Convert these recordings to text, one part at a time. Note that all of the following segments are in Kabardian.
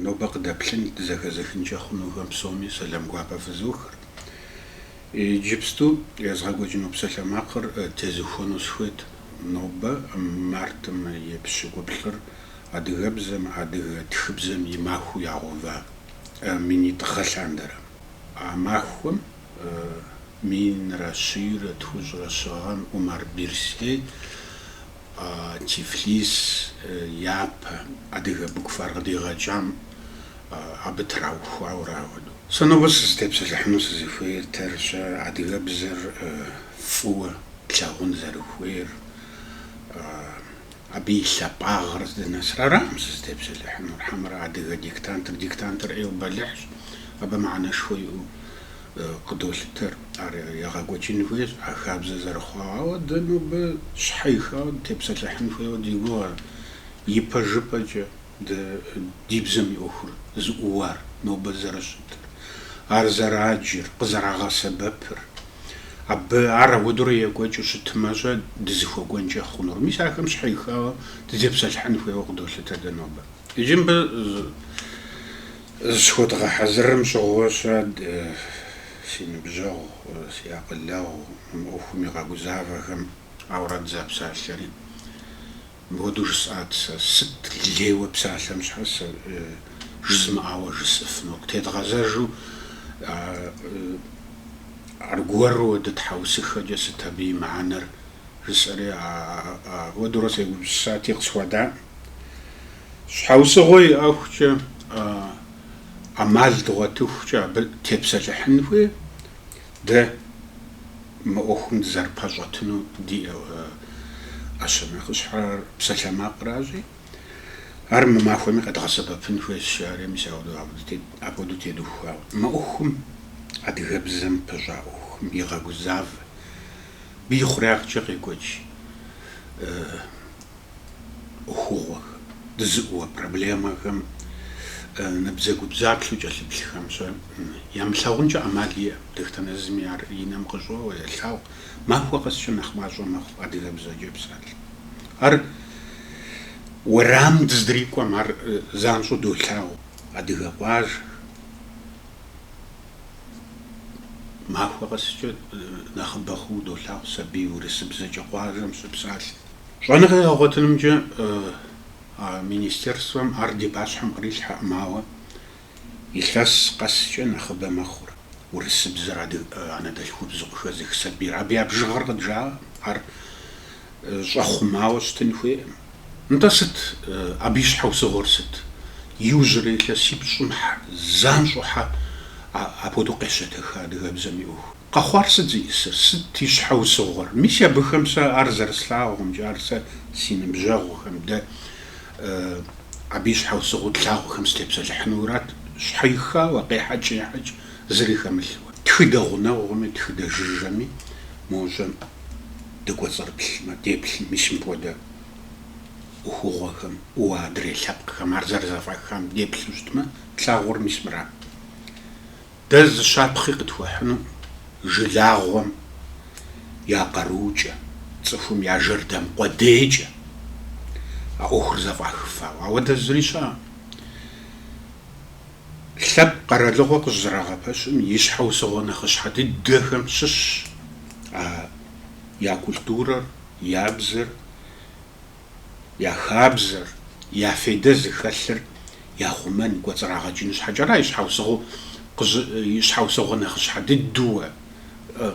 Нобэ къыдэплъын дызэхэзыхынкӏэ хъунухэм псоми сэлам гуапэ фызохыр. Иджыпсту езгъэкӏуэкӏыну псалъэмакъыр тезухуэну схуейт нобэ, мартым и пщыкӏуплӏыр адыгэбзэм, адыгэ тхыбзэм и махуэу ягъэува минитӏ гъэ лъандэрэ. А махуэм минрэ щийрэ тхущӏрэ щы гъэм Умар Берсей Тифлис япэ адыгэ буквар къыдигъэкӏам абы траухуауэ ар апхуэдэу. Сэ нобэ сызытепсэлъыхьыну сызыхуейр тэрщэ, адыгэбзэр фӏыуэ тлъагъун зэрыхуейр, абы и лъапӏагъыр здынэсыр аракъым сызытепсэлъыхьынур, хьэмэрэ адыгэ диктантыр, диктантыр ӏейуэ бэлыхьщ, абы мыхьэнэшхуэ иӏэу. къыдолъытэр. Ар егъэкӏуэкӏын хуейщ, а хабзэ зэрыхъуауэ. Ауэ дэ нобэ щхьэихауэ дытепсэлъыхьын хуейуэ ди гугъэр. Ипэжыпӏэкӏэ дэ ди бзэм и ӏуэхур зыӏууар, нобэ зэрыщытыр, ар зэраджэр, къызэрагъэсэбэпыр. Абы ар апхуэдэурэ екӏуэкӏыу щытымэ-щэ, дызыхуэкӏуэнкӏэ хъунур. Мис ахэм щхьэихауэ дытепсэлъыхьын хуейуэ къыдолъытэр дэ нобэ. Иджы мыбы. Зыщыхуэдгъэхьэзырым щыгъуэ-щэ си ныбжьэгъу, си акъылэгъу, мы ӏуэхум игъэгузавэхэм. Ауэрэ дызэпсалъэри мыпхуэдэу жысӏат сэ. Сыт лейуэ псалъэм щхьэ сэ жызмыӏауэ жысӏыфыну? Къытедгъэзэжу аргуэру дытхьэусыхэкӏэ сыт абы и мыхьэнэр жысӏэри, апхуэдэурэ сегупсысати, къысхуадаӏым. Щхьэусыгъуэ иӏэхукӏэ, ӏэмал дгъуэтыхукӏэ абы тепсэлъыхьын хуейщ, дэ мы ӏуэхум дызэрыпэщӏэтыну ди ӏэщэ нэхъыщхьэр псалъэмакъращи, ар мы махуэми къэдгъэсэбэпын хуейщ, жаӏэри мис апхуэдэу, апхуэдэу тедухуауэ. Мы ӏуэхум, адыгэбзэм пыщӏа ӏуэхум игъэгузавэ, абы ихъуреягъкӏэ къекӏуэкӏ. ӏуэхугъуэхэм, дызыӏууэ проблемэхэм набдзэгубдзаплъэу кӏэлъыплъхэм-щэ ямылъагъункӏэ ӏэмал иӏэкъым, дэтхэнэ зыми ар и нэм къыщӏоуэ, елъагъу. Махуэ къэскӏэ нэхъ мащӏэ мэхъу адыгэбзэкӏэ псалъэ. Ар уэрам дыздрикӏуэм ар занщӏэу долъагъу, адыгэ къуажэхэм. Махуэ къэскӏэ нэхъыбэ хъууэ долъагъу сабий урысыбзэкӏэ къуажэм щыпсалъэм. Щӏэныгъэ егъэгъуэтынымкӏэ а министерствэм ар ди пащхьэм кърилъхьэкъым, ауэ илъэс къэскӏэ нэхъыбэ мэхъур урысыбзэр анэдэлъхубзу къыхэзых сабийр. Абы я бжыгъэр къыджаӏэкъым, ар щӏэхъумауэ щытын хуейкъым. Нтӏэ, сыт абы и щхьэусыгъуэр сыт? Иужьрей илъэсипщӏым хьэ занщӏэу хьэ апхуэдэу къещэтэха адыгэбзэм и ӏуэху? Къэхъуар сыт зиӏысыр? Сыт и щхьэусыгъуэр? Мис абыхэм сэ ар зэрыслъагъумкӏэ, ар сэ си ныбжьэгъухэм, дэ абы и щхьэусыгъуэу тлъагъухэм сытепсэлъыхьынуурат, щхьэихауэ, къехьэкӏ-ехьэкӏ зыри хэмылъууэ. Тхыдэ гъунэгъуми, тхыдэ жыжьэми мо щӏэм дыкӏуэцӏрыплъмэ, деплъым, мис мыпхуэдэ ӏуэхугъуэхэм, уэ адрей лъэпкъхэм ар зэрызэфӏахам деплъу щытмэ, тлъагъуэр мис мырат. Дэ зы щапхъи къытхуэхьыну жылагъуэм я къаруукӏэ, цӏыхум я жэрдэм къуэдейкӏэ а ӏуэхур зэфӏахыфауэ. Апхуэдэ зыри щыӏэкъым. Лъэпкъ къэралыгъуэ къыщӏызэрагъэпэщым и щхьэусыгъуэ нэхъыщхьэ дыдэхэм щыщщ а я культурэр, я бзэр, Я хабзэр, я фейдэ зыхэлъыр яхъумэн, кӏуэцӏрагъэкӏын щхьэкӏэра и щхьэусыгъу, и щхьэусыгъуэ нэхъыщхьэ дыдууэ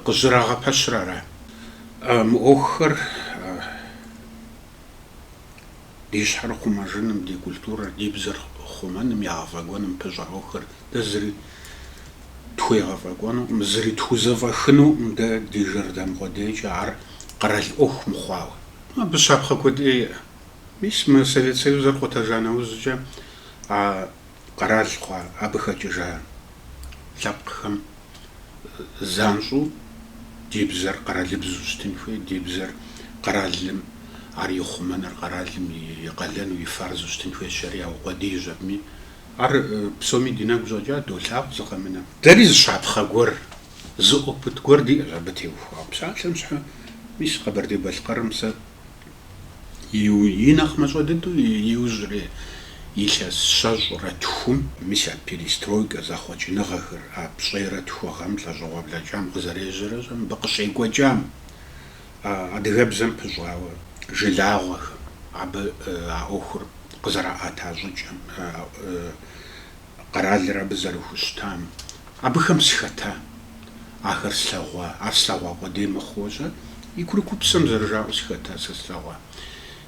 къыщӏызэрагъэпэщыр ара? Мы ӏуэхухэр ди щхьэр хъумэжыным, ди культурэр, ди бзэр хъумэным, егъэфӏэкӏуэным пыщӏа ӏуэхухэр, дэ зыри тхуегъэфӏэкӏуэнукъым, зыри тхузэфӏэхынукъым дэ ди жэрдэм къуэдейкӏэ, ар къэрал ӏуэху мыхъуауэ. Абы щапхъэ куэд иӏэ. Мис мы Совет Союзыр къутэжа нэужькӏэ а къэрал хъуа, абы хэкӏыжа лъэпкъхэм занщӏэу ди бзэр къэралыбзу щытын хуей, ди бзэр къэралым, ар и хъумэныр къэралым и къалэну, и фарзу щытын хуейщ жари яукъуэдийщ абыми. Ар псоми ди нэгу щӏэкӏа, долъагъу зы къэмынэ. Дэри зы щапхъэ гуэр Зы опыт гуэр диӏэщ абы теухуауэ. Псалъэм щхьэ, мис Къэбэрдей-Балъкъэрым сэ и нэхъ мащӏэ дыдэу иужьрей илъэс щэщӏрэ тхум, мис а перестройкэ зэхъуэкӏыныгъэхэр, а пщӏейрэ тху гъэм, лӏэщӏыгъуэ блэкӏам къызэрежьэрэ щӏэ мыбы къыщекӏуэкӏам, адыгэбзэм пыщӏауэ жылагъуэхэм, абы а ӏуэхур къызэраӏэта щӏыкӏэм, Къэралыр абы зэрыхущытам, абыхэм сыхэта, ахэр слъэгъуа. Ар слъэгъуа къудей мыхъууэ щӏэ, и курыкупсэм зэрыжаӏэу сыхэта сэ слъэгъуа.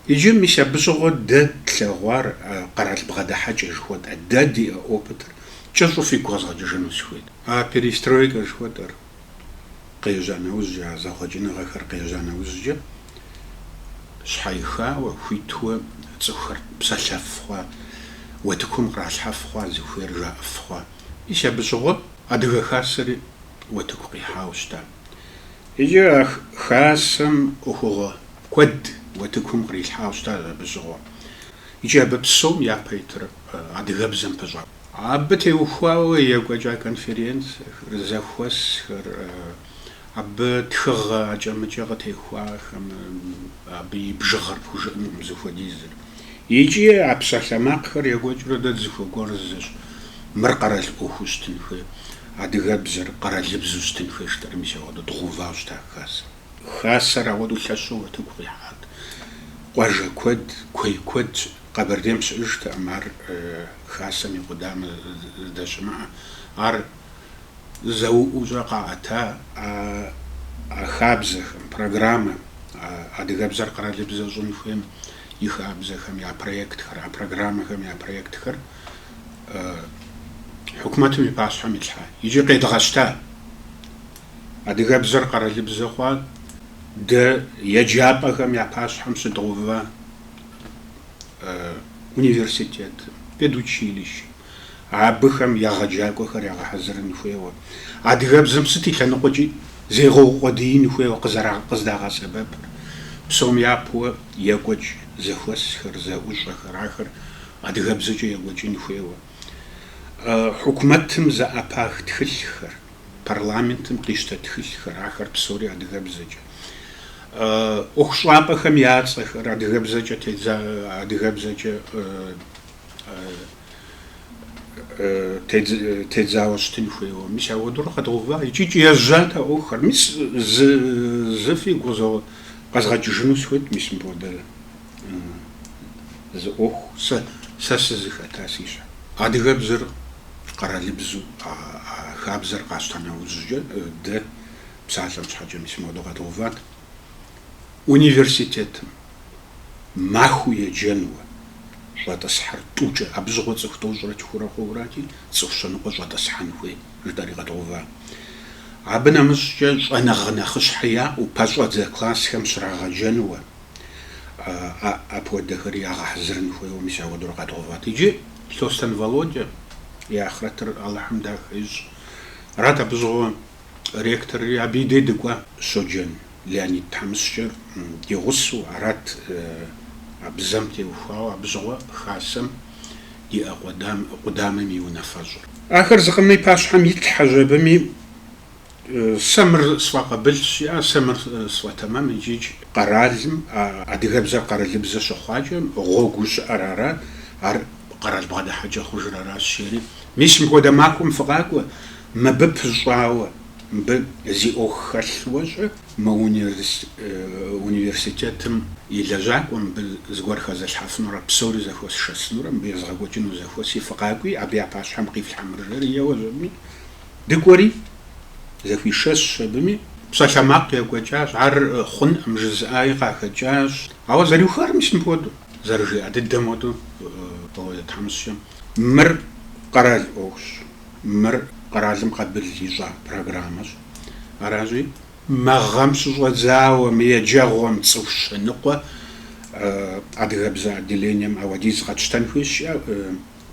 Иджы, мис абы щыгъуэ дэ тлъэгъуар къэрал бгъэдыхьэкӏэ жыхуэтӏэ, дэ ди опытыр кӏэщӏу фигу къэзгъэкӏыжыну сыхуейт. А перестройкэ жыхуэтӏэр къежьа нэужькӏэ, а зэхъуэкӏыныгъэхэр къежьа нэужькӏэ, щхьэихауэ, хуитуэ цӏыхухэр псэлъэф хъуа, уэтыкум къралъхьэф хъуа, зыхуейр жаӏэф хъуа. Мис абы щыгъуэ Адыгэ Хасэри уэтыку къихьауэ щыта. Иджы а Хасэм ӏуэхугъуэ куэд уэтыкум кърилъхьауэ щыта абы щыгъуэ. Икӏи абы псом япэ итыр адыгэбзэм пыщӏат. Абы теухуауэ екӏуэкӏа конференцэхэр, зэхуэсхэр, абы тхыгъэ акӏэ-мыкӏэ къытехуахэм абы и бжыгъэр пхужыӏэнукъым зыхуэдизыр. Икӏи а псалъэмакъхэр екӏуэкӏыурэ дэ дызыхуэкӏуэр зыщ, мыр къэрал ӏуэхуу щытын хуей, адыгэбзэр къэралыбзу щытын хуей жытӏэри мис ауэдэу дгъэувауэ щыта хасэм. Хасэр ауэдэу лъэщу утыку къихьат, къуажэ куэд, куей куэд щыӏэт. Къэбэрдейм щыӏэжтэкъым ар Хасэм и къудамэ здэщымыӏэ. Ар зэӏущӏэ къаӏэта а хабзэхэм, программэм, адыгэбзэр къэралыбзэ щӏын хуейм и хабзэхэм я проектхэр, а программэхэм я проектхэр хьукумэтым и пащхьэм илъхьа икӏи къедгъэщта. Адыгэбзэр къэралыбзэ хъуа дэ еджапӏэхэм я пащхьэм щыдгъэува университетым, педучилищэм абыхэм егъэджакӏуэхэр ягъэхьэзырын хуейуэ, адыгэбзэм сыт и лъэныкъуэкӏи зегъэукъуэдиин хуейуэ къыздагъэсэбэпыр, псом япэуэ екӏуэкӏ зэхуэсхэр, зэӏущӏэхэр, ахэр адыгэбзэкӏэ екӏуэкӏын хуейуэ, хьукумэтым зэӏэпах тхылъхэр. парламентым къищтэ тхылъхэр, ахэр псори адыгэбзэкӏэ. ӏуэхущӏапӏэхэм я цӏэхэр, адыгэбзэкӏэ тедза, адыгэбзэкӏэ тедзауэ щытын хуейуэ. Мис ауэдурэ къэдгъэува икӏи ежьат а ӏуэхухэр. Мис зы фигу къэзгъэкӏыжыну сыхуейт, мис мыпхуэдэ зы ӏуэху сэ сызыхэта си щхьэ. Адыгэбзэр къэралыбзу а хабзэр къащтэ нэужькӏэ дэ псалъэм щхьэкӏэ мис моуэдэу къэдгъэуват. Университетым махуэу еджэнуэ щӏэтӏысхьэр тӏукӏэ, абы щыгъуэ цӏыху тӏощӏрэ тхурэ хъуурати, цӏыху щэныкъуэ щӏэтӏысхьэн хуей, жытӏэри къэдгъэува. Абы нэмыщӏкӏэ щӏэныгъэ нэхъыщхьэ яӏэу, пэщӏэдзэ классхэм щрагъэджэнуэ, апхуэдэхэри ягъэхьэзырын хуейуэ мис ауэдэу къэдгъэуват. Иджы Лъостэн Володя и ахърэтыр Алыхьым дахэ ищӏ. Арат абы щыгъуэ ректорри, абы и дей дыкӏуа. Щоджэн Леонид тхьэмыщкӏэр ди гъусэу арат а бзэм теухуауэ, абы щыгъуэ Хасэм иӏэ къудамэм и унафэщӏыр. Ахэр зыкъом и пащхьэм итлъхьэщ, абыми Сэ мыр сфӏэкъабылщ, е сэ мыр сфӏэтэмэм икӏи къэралым а адыгэбзэр къэралыбзэ щыхъуакӏэ гъуэгуу щыӏэр арат, ар къэрал бгъэдыхьэкӏэ хъужыр аращ жери. Мис мыпхуэдэ махуэм фыкъакӏуэ, мыбы пыщӏауэ, мыбы зи ӏуэху хэлъ уэщӏэ, мы университетым и лэжьакӏуэ мыбы зыгуэр хэзылъхьэфынурэ псори зэхуэсшэсынурэ, мыбы езгъэкӏуэкӏыну зэхуэси фыкъакӏуи, абы я пащхьэм къифлъхьэ мыр жери, еуэщ абыми, Дыкӏуэри, зэхуишэсщ абыми, псалъэмакъ екӏуэкӏащ, ар хъунӏым жызыӏаи къахэкӏащ. Ауэ зэриухар мис мыпхуэдэу, зэрыжиӏэ дыдэм хуэдэу, Володя тхьэмыщкӏэм, мыр къэрал ӏуэхущ, мыр къэралым къабыл ищӏа программэщ. Аращи, мы гъэм щыщӏэдзауэ мы еджэгъуэм цӏыху щэныкъуэ адыгэбзэ отделением ауэдиз къэтщтэн хуейщ жиӏэу.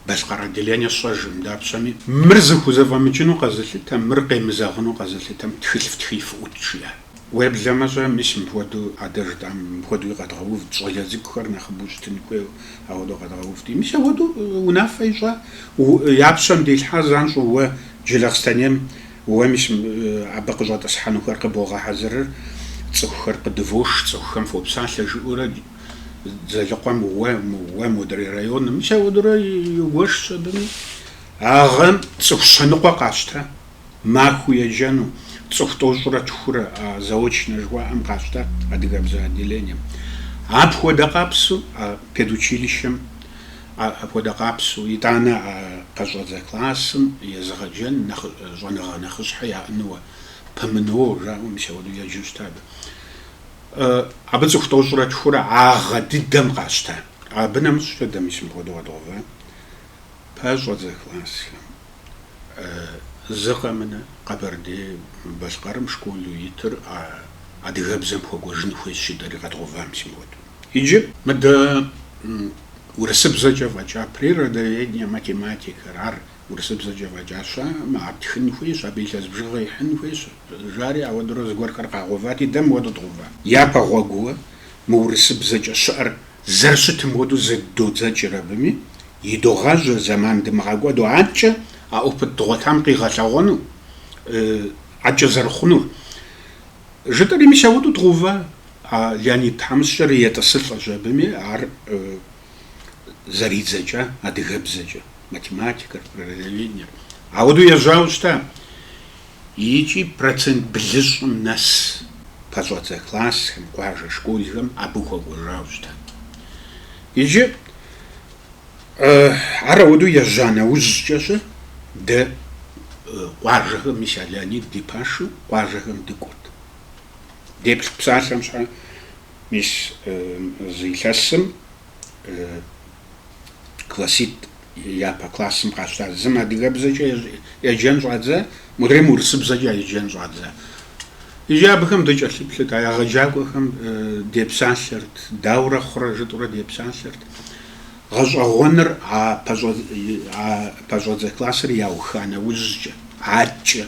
Балъкъэр отделение сщӏэжӏым, дапщэми, мыр зыхузэфӏэмыкӏыну къэзылъытэм, мыр къемызэгъыну къэзылъытэм тхылъ фтхыи фыӏукӏ, жиӏэ. Уеблэмэ-щэ, мис мыпхуэдэу а дэ жытӏам мыпхуэдэуи къэдгъэувт, щӏалэ цӏыкӏухэр нэхъыбэу щытын хуейуэ, ауэдэу къэдгъэувти. Мис ауэдэу унафэ ищӏа, я пщэм делъхьэ занщӏэу уэ Джылахъстэнейм, уэ мис абы къыщӏэтӏысхьэнухэр къыбогъэхьэзырыр, цӏыхухэр къыдывош, цӏыхухэм фопсалъэ, жыӏэурэ. Дзэлыкъуэм уэ, уэ модрей районым, мис ауэдурэ игуэшщ абыми. А гъэм цӏыху щэныкъуэ къащтэ, махуэу еджэну, цӏыху тӏощӏрэ тхурэ, а заочнэ жыхуаӏэм къащтэ адыгэбзэ отделением. Апхуэдэ къабзэу а педучилищэм, а, апхуэдэ къабзэу, итӏанэ а къэщӏэдзэ классым езыгъэджэн нэхъ, щӏэныгъэ нэхъыщхьэ яӏэнууэ, ПМНО жаӏэу, мис ауэдэу еджэу щыта абы. Абы цӏыху тӏощӏрэ тхурэ а гъэ дыдэм къащтэ. Абы нэмыщӏ дэ мис мыпхуэдэу къэдгъэува пэщӏэдзэ классхэм. Зы къэмынэ Къэбэрдей-Балъкъэрым школу итыр а адыгэбзэм хуэкӏуэжын хуейщ жытӏэри къэдгъэува мис мыпхуэдэу. Иджы. Мыдэ урысыбзэкӏэ фӏэкӏа природоведение, математикэр, ар Урысыбзэкӏэ фӏэкӏа щыӏэӏым, ар тхын хуейщ, абы илъэс бжыгъэ ихьын хуейщ, жари ауэдурэ зыгуэрхэр къагъэувати, дэ мыуэдэу дгъэува. Япэ гъуэгууэ мы урысыбзэкӏэ щыӏэр зэрыщытым хуэдэу зэдодзэкӏыр абыми, едогъажьэ зэман дымыгъэкӏуэду адэкӏэ а опыт дгъуэтам къигъэлъэгъуэну, адэкӏэ зэрыхъунур. Жытӏэри мис ауэдэу дгъэува, а Леонид тхьэмыщкӏэр етӏысылӏэщ абыми, ар. зэридзэкӏа, адыгэбзэкӏэ, математикэр, природоведениер. Ауэдэу ежьауэ щыта. Икӏи процент блыщӏым нэс пэщӏэдзэ классхэм, къуажэ школхэм абы хуэкӏуэжауэ щыта. Иджы ар ауэдэу ежьа нэужькӏэ-щэ дэ къуажэхэм, мис а Леонид ди пашэу къуажэхэм дыкӏуэрт. Деплъ псалъэм щхьэ Мис зы илъэсым класситӏ япэ классым къащтащ. Зым адыгэбзэкӏэ еджэн щӏадзэ, мыдрейм урысыбзэкӏэ еджэн щӏадзэ. Иджы абыхэм дыкӏэлъыплъырт, а егъэджакӏуэхэм депсалъэрт, даурэ хъурэ жытӏурэ депсалъэрт. Гъэщӏэгъуэныр а пэщӏэдзэ классыр яуха нэужькӏэ, адэкӏэ.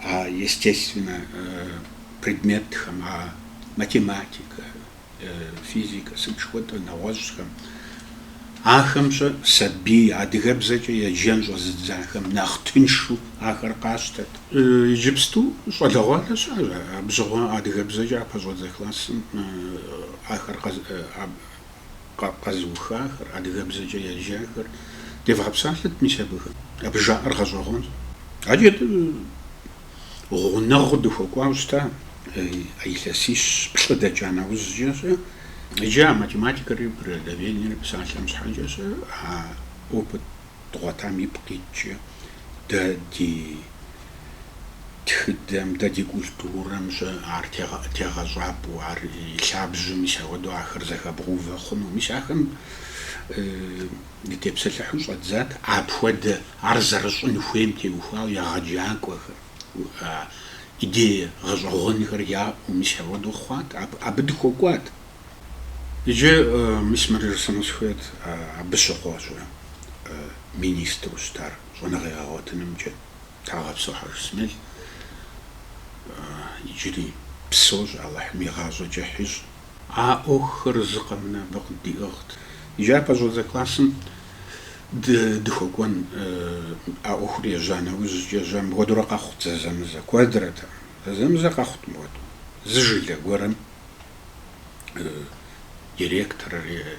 а естественнэ предметхэм, а математикэ, физикэ, сыт жыхуэтӏэ нэгъуэщӏхэм, ахэм-щэ сабий адыгэбзэкӏэ еджэн щӏэзыдзахэм нэхъ тыншу ахэр къащтэт. Иджыпсту щӏалэгъуалэ щыӏэщ абы щыгъуэ адыгэбзэкӏэ а пэщӏэдзэ классым ахэр къэ. къэзыухахэр, адыгэбзэкӏэ яджахэр девгъэпсалъэт мис абыхэм. Абы жаӏэр гъэщӏэгъуэнщ. Адэкӏэ дэ гъунэгъуу дыхуэкӏуауэ щыта а илъэсищ-плӏы дэкӏа нэужькӏэ-щэ, иджы а математикэри природоведенери псалъэм щхьэкӏэ-щэ а опыт дгъуэтам ипкъ иткӏэ дэ ди Тхыдэм, дэ ди культурэм-щэ ар тегъэщӏапӏэу, ар и лъабжьэу, мис ауэдэу ахэр зэхэбгъэувэ хъуну. Мис ахэм дытепсэлъыхьу щӏэддзат апхуэдэ ар зэрыщӏын хуейм теухуауэ егъэджакӏуэхэр, идея, гъэщӏэгъуэнхэр яӏэу, мис ауэдэу хъуат, абы дыхуэкӏуат. Иджы, мис мыр жысӏэну сыхуейт, абы щыгъуэ-щэ министру щытар. Щӏэныгъэ егъэгъуэтынымкӏэ Тхьэгъэпсо Хьэжысмел. Иджыри псоущ, Алыхьым и гъащӏэ кӏыхь ищӏ. А ӏуэхухэр зы къэмынэ абы къыддиӏыгът. Иджы а пэщӏэдзэ классым дыхуэкӏуэн. А ӏуэхур ежьа нэужькӏэ-щэ мыпхуэдурэ къэхъут зэзэмызэ куэдрэтэкъым. Зэзэмызэ къэхъут мыпхуэду. Зы жылэ гуэрым директорыр е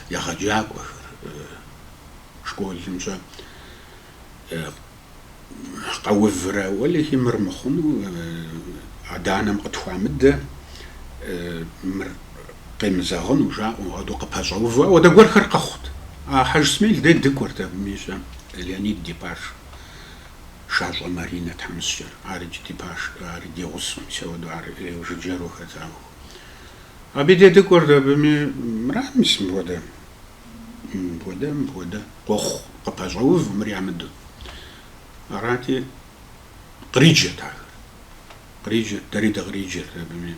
егъэджакӏуэхэр. школым щэ къэуврэ, уэлэхи, мыр мыхъуну, адэ-анэм къытхуамыдэ, мыр къемызэгъыну, жаӏэу ауэдэу къыпэщӏэувэу, ауэдэ гуэрхэр къэхъут. А Хьэжсмел дей дыкӏуэрт абыми щэ, Леонид ди пашэ, Шащӏэ Маринэ тхьэмыщкӏэр, арикӏ ди пашэ, ар ди гъусэу, мис ауэдэу ар жыджэру хэтауэ. Абы дей дыкӏуэрт абыми, мыра мис мыпхуэдэ Мыпхуэдэ, мыпхуэдэ, къохъу, къыпэщӏэув мыр ямыдэу. Арати, къриджэт ахэр. Къриджэт, дэри дыкъриджэрт абыми.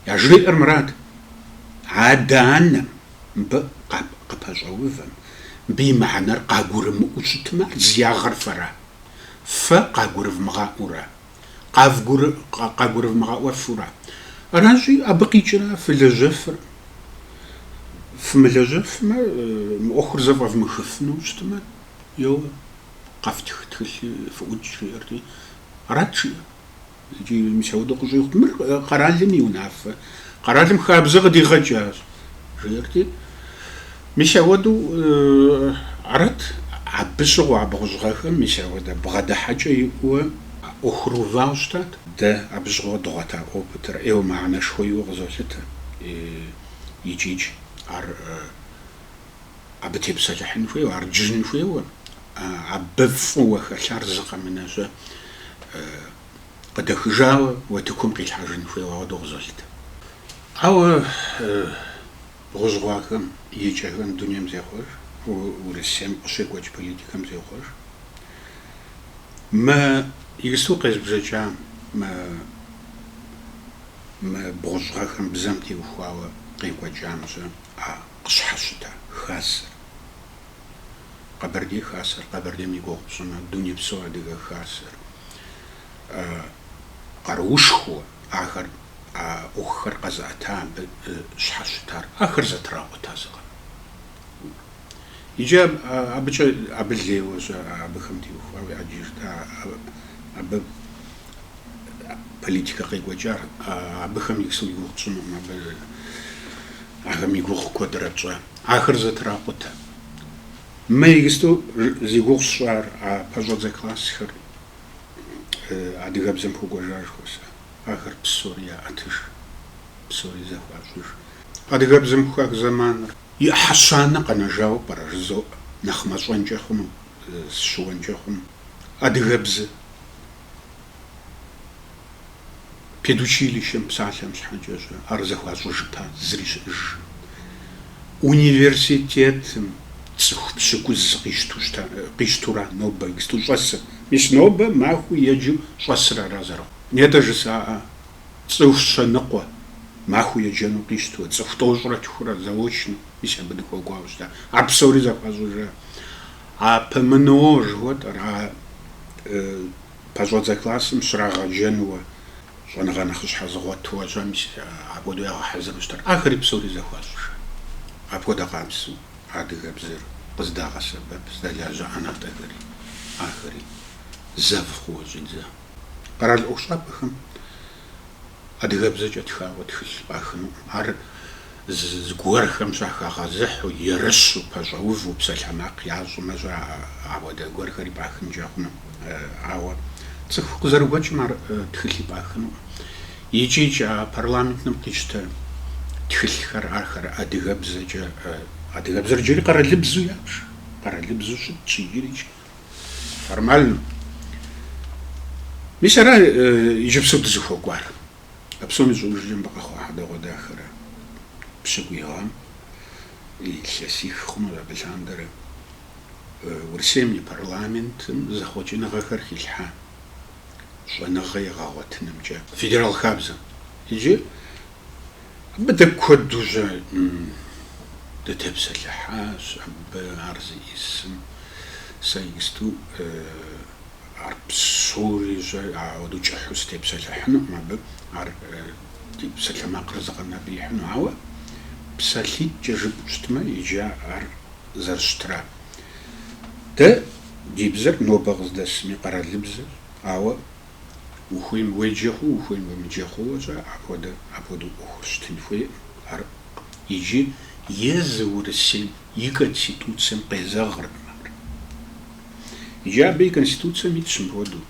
Яжриӏэр мырат, адэ-анэм, мыбы къыпэщӏэувэм, мыбы и мыхьэнэр къагурымыӏуэу щытмэ, ар зи ягъэр фэра? Фэ къагурывмыгъаӏуэу ара? къагурывмыгъэӏуэфу ара. Аращи, абы къикӏрэ фылэжьэфыр, фымылэжьэфмэ, мы ӏуэхур зэфӏэвмыхыфыну щытмэ, еуэ, къэфтх тхылъи, фыӏукӏ, жиӏэрти, арат жиӏэр. Икӏи мис ауэдэу къыщӏигъут, мыр къэралым и унафэ, къэралым хабзэ къыдигъэкӏащ, жиӏэрти, Мис ауэдэу арат, абы щыгъуэ а бгъущӏгъэхэм мис ауэдэ бгъэдыхьэкӏэ иӏэуэ ӏуэхур увауэ щытат. Дэ абы щыгъуэ дыгъуэта опытыр ӏейуэ мыхьэнэшхуэ иӏэу къызолъытэ икӏикӏ ар абы тепсэлъыхьын хуейуэ, ар джыжын хуейуэ, абы фӏыуэ хэлъар зы къэмынэ щэ къыдэхыжауэ утыкум къилъхьэжын хуейуэ ауэдэу къызолъытэ. Ауэ Бгъущӏгъэхэм и кӏэхэм дунейм зехъуэж, Урысейм къыщекӏуэкӏ политикэм зехъуэж. Мы иджысту къезбжэкӏам, мы мы бгъущӏгъэхэм бзэм теухуауэ къекӏуэкӏам щэ а къыщхьэщыта Хасэр. Къэбэрдей Хасэр, Къэбэрдейм и гугъу пщӏымэ, дунейпсо адыгэ Хасэр къаруушхуэ. ахэр, а ӏуэхухэр къэзыӏэта абы щхьэщытар, ахэр зэтракъутэ зыкъом. Иджы абыкӏэ, абы лейуэ щэ, абыхэм теухуауэ ӏэджэщ, абы политикэ къекӏуэкӏар, абыхэм иджысту и гугъу тщӏынукъым, абы ахэм и гугъу куэдрэ тщӏэ, ахэр зэтракъутэ. Мы иджысту зи гугъу сщӏар, а пэщӏэдзэ классхэр Адыгэбзэм хуэкӏуэжа жыхуэсӏэ. Ахэр псори яӏэтыж, псори зэхуащӏыж. Адыгэбзэм хах зэманыр. И ӏыхьэ щанэ къэнэжауэ пӏэрэ жызоӏэ, нэхъ мащӏэнкӏэ хъуну, сыщыуэнкӏэ хъуну. Адыгэбзэ. Педучилищэм псалъэм щхьэкӏэ щӏэ ар зэхуащӏыжыпа зыри щыӏэжым. Университетым цӏыху пщыкӏуз къищту щыта, къищтура нобэ иджту щӏэсыр? Мис нобэ махуэу еджэу щӏэсыр ара зэрыхъу? Нетӏэ жысӏаӏэ, цӏыху щэныкъуэ, махуэу еджэну къищтуэ, цӏыху тӏощӏрэ тхурэ, заочно, мис абы дыхуэкӏуауэ щыта? Ар псори зэхуащӏыжа? А ПМНО жыхуэтӏэр, а Пэщӏэдзэ классым щрагъэджэнуэ щӏэныгъэ нэхъыщхьэ зыгъуэтуэ щӏэ, мис апхуэдэу ягъэхьэзыру щытар. Ахэри псори зэхуащӏыжа. Апхуэдэ къабзэу адыгэбзэр къыздагъэсэбэп здэлажьэ ӏэнатӏэхэри, ахэри зэв хъууэ щӏидза. Къэрал ӏуэхущӏапӏэхэм адыгэбзэкӏэ тхауэ тхылъ пӏахынукъым. Ар зыгуэрхэм щыхагъэзыхьу, ерыщу, пэщӏэуву псалъэмакъ ящӏымэ-щэ, ауэдэ гуэрхэри пӏахынкӏэ хъуну. Ауэ цӏыху къызэрыгуэкӏым ар тхылъи пӏахынукъым. Икӏи-икӏи а парламентым къищтэ тхылъхэр, ахэр адыгэбзэкӏэ, адыгэбзэр иджыри къэралыбзу япш, къэралыбзу щытщ иджыри-икӏи. Формально. Мис ара иджыпсу дызыхуэкӏуар? А псоми щӏыужкӏэ мыбы къэхъуа хьэдэгъуэдахэра, пщыкӏуий гъэм илъэсих хъунущ абы лъандэрэ Урысейм и парламентым зэхъуэкӏыныгъэхэр хилъхьа щӏэныгъэ егъэгъуэтынымкӏэ федерал хабзэм. Иджы Абы дэ куэдужьэ дытепсэлъыхьащ, абы ар зиӏисым сэ иджысту ар псори щӏэ ауэдэу кӏыхьу сытепсэлъыхьынукъым абы, ар ди псалъэмакъыр зыкъэнэбрихьыну, ауэ псалъитӏкӏэ жыпӏэу щытмэ, иджы ар зэрыщытра. Дэ ди бзэр нобэ къыздэсми къэралыбзэщ, ауэ Ухуейм уеджэ хъу, ухуейм уемыджэ хъууэ щӏэ апхуэдэ, апхуэдэу ӏуэхур щытын хуейкъым. Ар иджы езы Урысейм и Конституцэм къезэгъыркъым ар. Иджы абы и Конституцэм итщ мыпхуэдэу,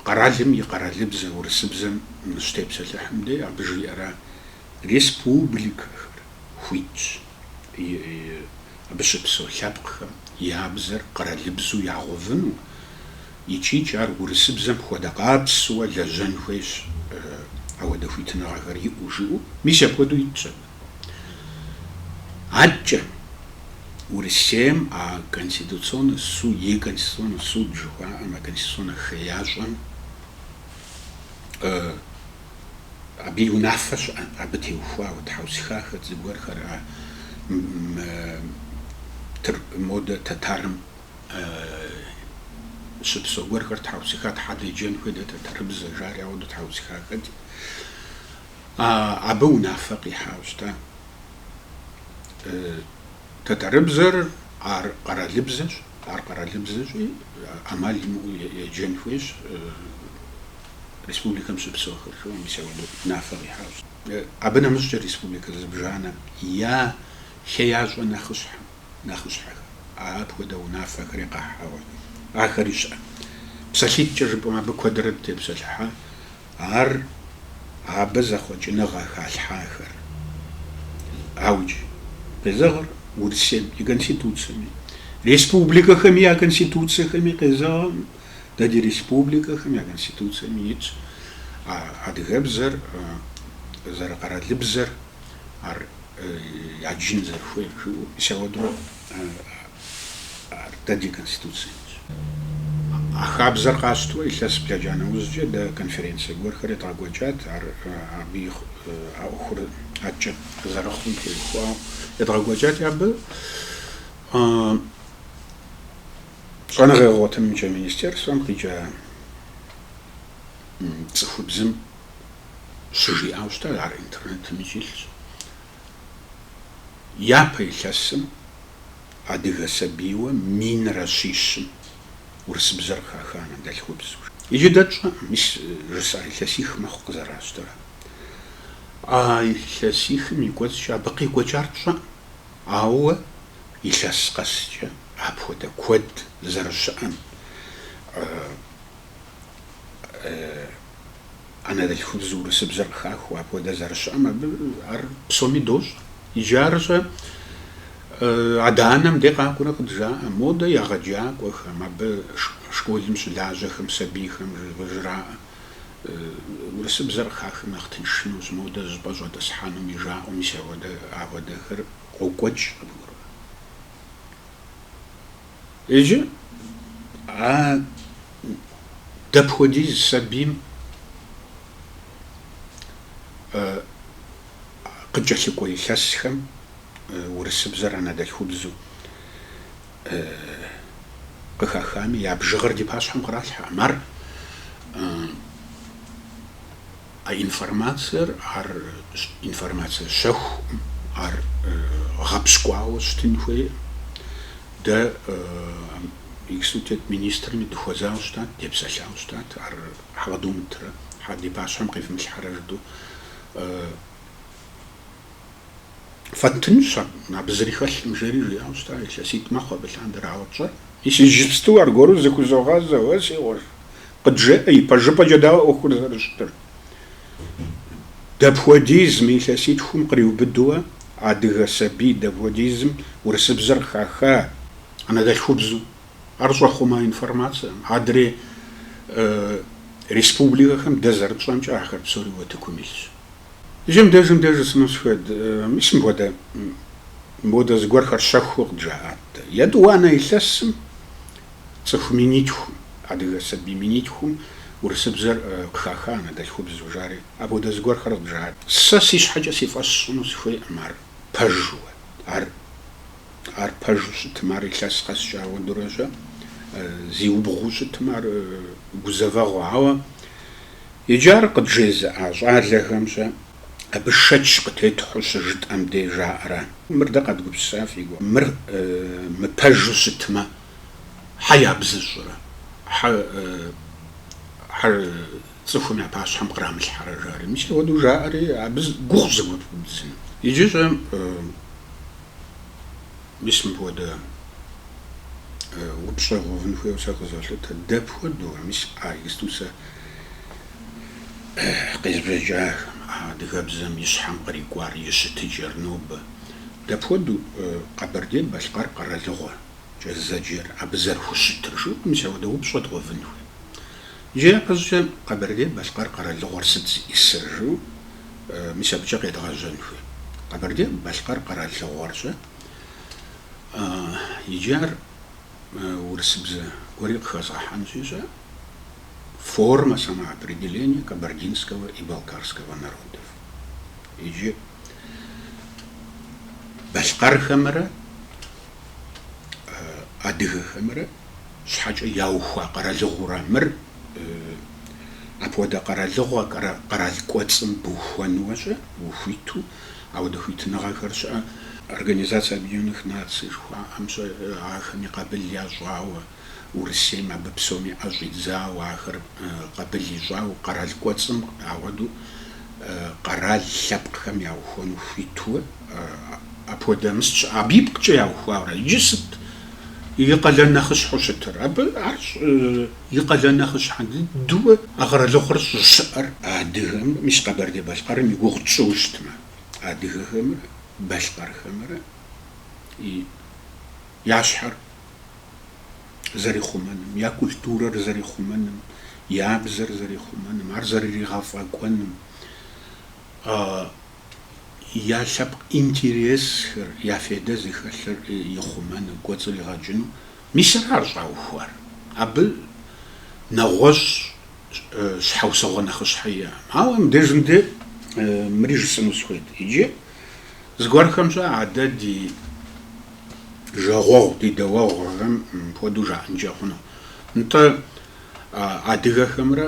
Къэралым и къэралыбзэ урысыбзэм щытепсэлъыхьым дей абы жиӏэра, Республикэхэр хуитщ. абы щыпсэу лъэпкъхэм я бзэр къэралыбзу ягъэувыну икӏи-икӏи ар урысыбзэм хуэдэ къабзэу лэжьэн хуейщ, ауэдэ хуитыныгъэхэр иӏэу жиӏэу, мис апхуэдэу итщ абы. Адэкӏэ Урысейм а Конституционнэ су, и Конституционнэ суд жыхуаӏэм, а Конституционнэ хеящӏэм, Абы и унафэ щыӏэ, абы теухуауэ тхьэусыхахэт зыгуэрхэр а модэ тэтарым щыпсэу гуэрхэр тхьэусыха щхьэ деджэн хуей дэ тэтэрыбзэ жари ауэдэ тхьэусыхахэти, абы унафэ къихьауэ щыта. Тэтэрыбзэр ар къэралыбзэщ, ар къэралыбзэщи ӏэмал имыӏэу еджэн хуейщ. республикэм щыпсэухэр жиӏэу, мис ауэду унафэ къихьащ. Абы нэмыщӏкӏэ республикэ зыбжанэм я хеящӏэ нэхъыщхьэм нэхъыщхьэхэр, апхуэдэ унафэхэри къахьауэ ахэри щыӏэщ. Псалъитӏкӏэ жыпӏэмэ, абы куэдрэ дытепсэлъыхьа, ар абы зэхъуэкӏыныгъэ халъхьахэр ауикӏ къезэгъыр Урысейм и Конституцэми, республикэхэми я Конституцэхэми къезэгъкъым Дэ ди республикэхэм я Конституцэми итщ а адыгэбзэр зэрыкъэралыбзэр ар яджын зэрыхуейр жиӏэу, мис ауэдурэ ар дэ ди Конституцэм итщ. А хабзэр къащтурэ илъэс блэкӏа нэужькӏэ дэ конференцэ гуэрхэр едгъэкӏуэкӏат, ар абы и а ӏуэхур ӏэкӏэ зэрыхъум теухуауэ едгъэкӏуэкӏати абы Щӏэныгъэ егъэгъуэтынымкӏэ министерствэм къикӏа цӏыхубзым щыжиӏауэ щытар, ар интернетымикӏ илъщ, япэ илъэсым адыгэ сабийуэ минрэ щищым урысыбзэр къыхаха анэдэлъхубзэу. Иджы дэ тщӏэкъым, мис жысӏар илъэсих мэхъу къызэращтэрэ. А илъэсихым и кӏуэцӏкӏэ абы къекӏуэкӏар тщӏэкъым. Ауэ илъэс къэскӏэ апхуэдэ куэд зэрыщыӏэм анэдэлъхубзэу урысыбзэр къыхахыу апхуэдэ зэрыщыӏэм абы ар псоми дощӏэ. Иджы аращи адэ-анэм де къакӏуэрэ къыджаӏэ, модэ егъэджакӏуэхэм, абы школым щылажьэхэм сабийхэм къыжраӏэ. Урысыбзэр къыхахым нэхъ тыншынущ, модэ зыщӏыпӏэ щӏэтӏысхьэнуми жаӏэу, мис ауэдэ апхуэдэхэр къокӏуэкӏ къыбгурыӏуэ. Иджы а дапхуэдиз сабийм къыкӏэлъыкӏуэ илъэсхэм урысыбзэр анэдэлъхубзэу, Къыхахами, я бжыгъэр ди пащхьэм къралъхьэкъым. Ар а информациер, ар информацие щэхукъым, ар гъэпщкӏуауэ щытын хуейкъым. Дэ иджыпсту тет министрми дыхуэзауэ щытат, депсэлъауэ щытат, ар хьэ къыдумытрэ, хьэ ди пащхьэм къивмылъхьэрэ жыду. Фэттынщ абы, абы зыри хэлъым, жери жиӏауэ щыта, илъэситӏ мэхъу абы лъандэр, ауэ пщӏэр. Иджыпсту аргуэру зыхузогъэзэ, уэ си гъуэжь, къыджеӏэ, ипэжыпӏэкӏэ дауэ ӏуэхур зэрыщытыр? Дапхуэдизым, илъэситхум къриубыдууэ, адыгэ сабий дапхуэдизым урысыбзэр къыхаха анэдэлъхубзу? Ар щӏэхъума информацэкъым, адрей республикэхэм дэ зэрытщӏэмкӏэ ахэр псори утыкум илъщ. Иджы мыдеж, мыдеж жысӏэну сыхуейт. Мис мыпхуэдэ, мыпхуэдэ зыгуэрхэр щэхуу къыджаӏат дэ. Етӏуанэ илъэсым цӏыху минитхум, адыгэ сабий минитхум урысыбзэр къыхаха анэдэлъхубзу жари, апхуэдэ зыгуэрхэр къыджаӏат. Сэ си щхьэкӏэ си фӏэщ сщӏыну сыхуейкъым ар пэжу. Ар. Ар пэжу щытмэ, ар илъэс къэскӏэ ауэдэурэ щӏэ, зиубгъуу щытмэ, ар гузэвэгъуэ. Ауэ иджы ар къыджезыӏа щӏалэхэм щэ абы шэч къытетхьу щыжытӏэм де жаӏэрэ? Мыр дэ къэдгупсыса фи гугъэ? Мыр мыпэжу щытмэ, хьэ ябзыщӏрэ? Хьэ, хьэ цӏыхум я пащхьэм кърамылъхьэрэ жари. Мис апхуэдэу жаӏэри, абы гугъущ зыгуэр пэбдзыну. Иджы щӏэ, мис мыпхуэдэ упщӏэ гъэувын хуейуэ сэ къызолъытэ, дапхуэдэу, мис а иджыпсту сэ къезбжэкӏахэм, а адыгэбзэм и щхьэм кърикӏуар и щытыкӏэр нобэ, дапхуэдэу Къэбэрдей-Балъкъэр къэралыгъуэкӏэ зэджэр абы зэрыхущытыр жыӏэу, мис апхуэдэ упщӏэ дгъэувын хуей. Иджы япэщӏыкӏэ Къэбэрдей-Балъкъэр къэралыгъуэр сыт зиӏысыр жыӏэу, мис абыкӏэ къедгъэжьэн хуей. Къэбэрдей-Балъкъэр къэралыгъуэр щӏэ, иджы ар урысыбзэ гуэри къыхэзгъэхьэнщи щӏэ, форма самоопределения кабардинского и балкарского народов. Иджы балъкъэрхэмрэ адыгэхэмрэ. щхьэкӏэ яухуа къэралыгъурэ мыр, апхуэдэ къэралыгъуэ къэрал кӏуэцӏым бухуэнуэ щӏэ, ухуиту, ауэдэ хуитыныгъэхэр щыӏэ. Организация Объединенных Наций жыхуаӏэм щӏэ, ахэми къабыл ящӏауэ, Урысейм абы псоми ӏэ щӏидзауэ, ахэр къабыл ищӏауэ, къэрал кӏуэцӏым ауэдэу къэрал лъэпкъхэм яухуэну хуитуэ, апхуэдэ мыс щыӏэ, абы ипкъкӏэ яухуауэрэ, иджы сыт И къалэн нэхъыщхьэу щытыр. Абы ар щэ и къалэн нэхъыщхьэ дыдэуэ а къэралыгъуэр щӏыщыӏэр адыгэм, мис Къэбэрдей-Балъкъэрым и гугъу тщӏыу щытмэ, адыгэхэмрэ балъкъэрхэмрэ я щхьэр зэрихъумэным, я культурэр зэрихъумэным, я бзэр зэрихъумэным, ар зэрыригъэфӏэкӏуэным. я лъэпкъ интересхэр, я фейдэ зыхэлъыр ихъумэну, кӏуэцӏригъэкӏыну. Мис ара ар щӏаухуар. Абы нэгъуэщӏ щхьэусыгъуэ нэхъыщхьэ иӏэкъым. Ауэ мыбдежым дэ мыри жысӏэну сыхуейт. Иджы зыгуэрхэм щэ адэ ди жагъуэгъу, ди дэуэгъухэм хуэдэу жаӏэнкӏэ хъуну. Нтӏэ. Адыгэхэмрэ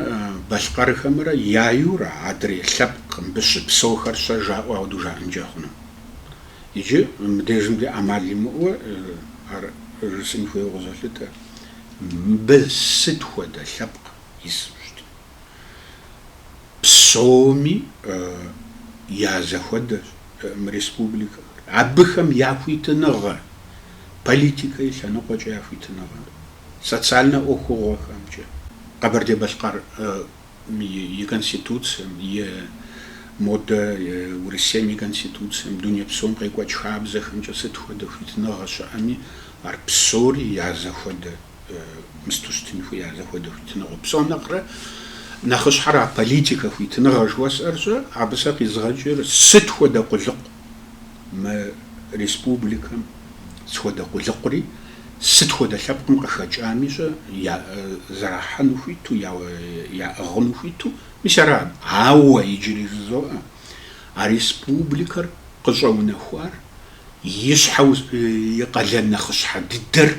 балъкъэрхэмрэ яйуэ ара, адрей лъэпкъ мыбы щыпсэухэр щэ жаӏуэ апхуэдэу жаӏэнкӏэ хъуну? Иджы мыбдежым дэ ӏэмал имыӏуэ ар жысӏэн хуейуэ къызолъытэ, мыбы сыт хуэдэ лъэпкъ ису щытми, псоми я зэхуэдэщ мы республикэхэр, абыхэм я хуитыныгъэр, политикэ и лъэныкъуэкӏэ я хуитыныгъэр. Социальнэ ӏуэхугъуэхэмкӏэ Къэбэрдей-Балъкъэр и Конституцэм е модэ Урысейм и Конституцэм, дуней псом къекӏуэкӏ хабзэхэмкӏэ сыт хуэдэ хуитыныгъэ щыӏэми, ар псори я зэхуэдэ мысту щытын хуей, я зэхуэдэ хуитыныгъэ. Псом нэхърэ нэхъыщхьэр а политикэ хуитыныгъэ жыхуэсӏэр щэ, абы сэ къизгъэкӏыр сыт хуэдэ къулыкъу мы республикэм сыт хуэдэ къулыкъури, сыт хуэдэ лъэпкъым къыхэкӏами щэ я зэрахьэну хуиту, яӏыгъыну хуиту, мис арат. Ауэ иджыри жызоӏэ, а республикэр къыщӏэунэхуар и щхьэу и къалэн нэхъыщхьэ дыдэр,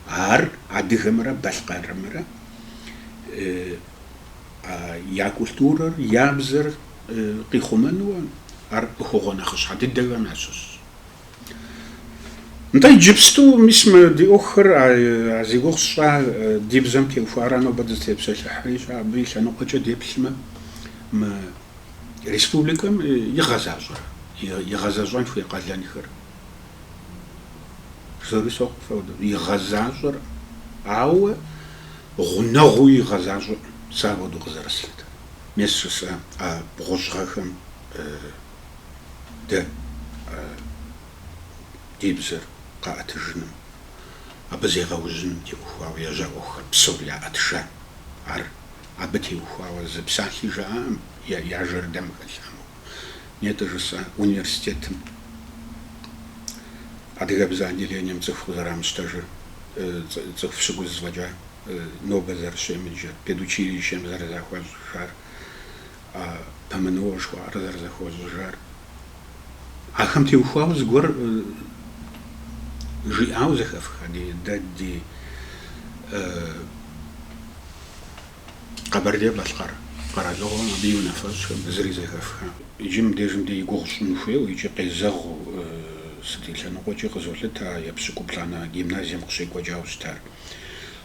ар адыгэмрэ балъкъэрымрэ я культурэр, я бзэр, къихъумэнуэ ар ӏуэхугъуэ нэхъыщхьэ дыдэхэм ящыщщ. Нтӏэ, иджыпсту, мис, мы ди ӏуэхухэр а зи гугъу сщӏа ди бзэм теухуара нобэ дызытепсэлъыхьри, щэ, абы и лъэныкъуэкӏэ деплъмэ, мы республикэм игъэзащӏэр, игъэзэщӏэн хуей къалэнхэр, псори сохъу фэ хуэдэу, игъэзащӏэр, ауэ гъунэгъуу игъэзащӏэркъым сэ апхуэдэу къызэрыслъытэр. Мес жысӏа а бгъущӏ гъэхэм дэ ди бзэр къаӏэтыжыным, абы зегъэужьыным теухуауэ ежьа ӏуэхухэр псори яӏэтыжа. Ар абы теухуауэ зы псалъи жаӏакъым я жэрдэм хэлъамэу. Нетӏэ жысӏа университетым адыгэбзэ отделением цӏыху къызэрамыщтэжыр, цӏыху пщыкӏуз фӏэкӏа. нобэ зэрыщемыджэр, педучилищэм зэрызэхуащӏыжар, ПМНО жыхуаӏэр зэрызэхуащӏыжар. Ахэм теухуауэ зыгуэр жиӏауэ зэхэфха ди, дэ ди Къэбэрдей-Балъкъэр къэралыгъуэм абы и унафэщӏхэм зыри зэхэфха. Иджы мыбдежым дей и гугъу щӏын хуейуэ икӏи къезэгъыу сыт и лъэныкъуэкӏи къызолъыт а епщыкӏуплӏанэ гимназием къыщекӏуэкӏауэ щытар.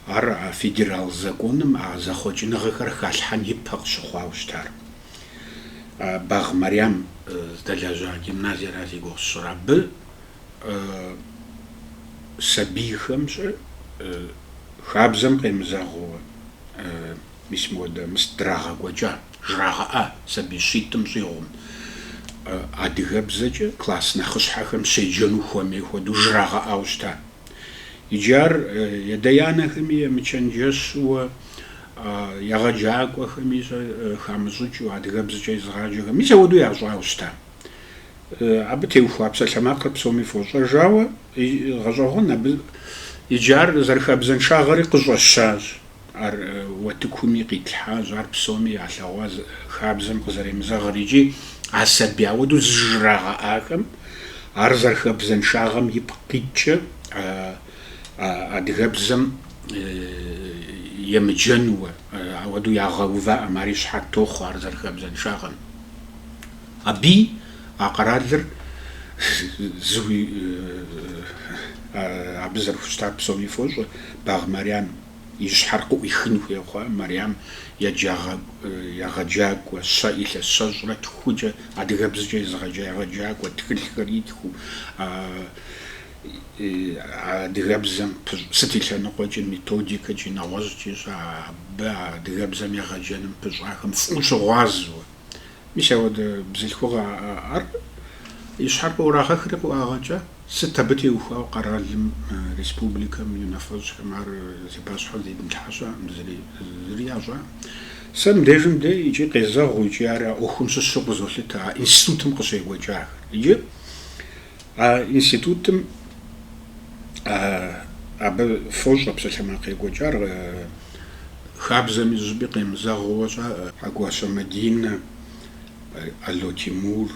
Ар а федерал законым а зэхъуэкӏыныгъэхэр халъхьэн ипэ къыщыхъуауэ щытар. Багъ Мэрям здэлэжьа гимназиера зи гугъу сщӏыр. Абы сабийхэм щӏы хабзэм къемызэгъыуэ мис мыуэдэ мыст драгъэкӏуэкӏа, жрагъэӏа сабий щитӏым щӏигъум. Адыгэбзэкӏэ класс нэхъыщхьэхэм щеджэну хуэмей хуэдэу жрагъэӏауэ щыта. Иджы ар ядэ-янэхэми емычэнджэщу, егъэджакӏуэхэми щӏэ хамыщӏыкӏыу, адыгэбзэкӏэ езыгъаджэхэм мис ауэдэу ящӏауэ щыта. Абы теухуа псалъэмакъыр псоми фощӏэж, ауэ гъэщӏэгъуэн абы иджы ар зэрыхабзэншагъэри къыщӏэщащ. Ар утыкуми къитлъхьащ, ар псоми ялъэгъуа хабзэм къызэремызэгъыр икӏи а сабий ауэдэу зыжрагъэӏахэм ар зэрыхабзэншагъэм ипкъ иткӏэ адыгэбзэм емыджэнууэ, ауэдэу ягъэуваӏэм ари щыхьэт тохъуэ ар зэрыхабзэншагъэм. Абы а къэралыр зыуи абы зэрыхущытар псоми фощӏэ Багъ Мэрям. И щхьэр къыӏуихын хуей хъуа Мэрям егъэджакӏуэ, щэ илъэс щэщӏрэ тхукӏэ, адыгэбзэкӏэ езыгъэджа егъэджакӏуэ, тхылъхэр итхыу, адыгэбзэм сыт и лъэныкъуэкӏи, методикэкӏи, нэгъуэщӏкӏи щӏа, абы адыгэбзэм егъэджэным пыщӏахэм фӏыуэ щыгъуазэу. Мис ауэдэ бзылъхугъэ ар и щхьэр къыӏурагъэхри къыӏуагъэкӏа, сыт абы теухуауэ къэралым, республикэм и унафэщӏхэм ар зи пащхьэ зидмылъхьа щыӏэ зыри, зыри ящӏа? Сэ мыбдежым дей икӏи къезэгъу икӏи ар а ӏуэхум щыщу къызолъытэ а институтым къыщекӏуэкӏахэр. Иджы А институтым абы фощӏэ псалъэмакъ екӏуэкӏар хабзэми зыщӏыпӏи къемызэгъыуэ-щэ. Хьэкӏуащэ Мадинэ, Ало Тимур,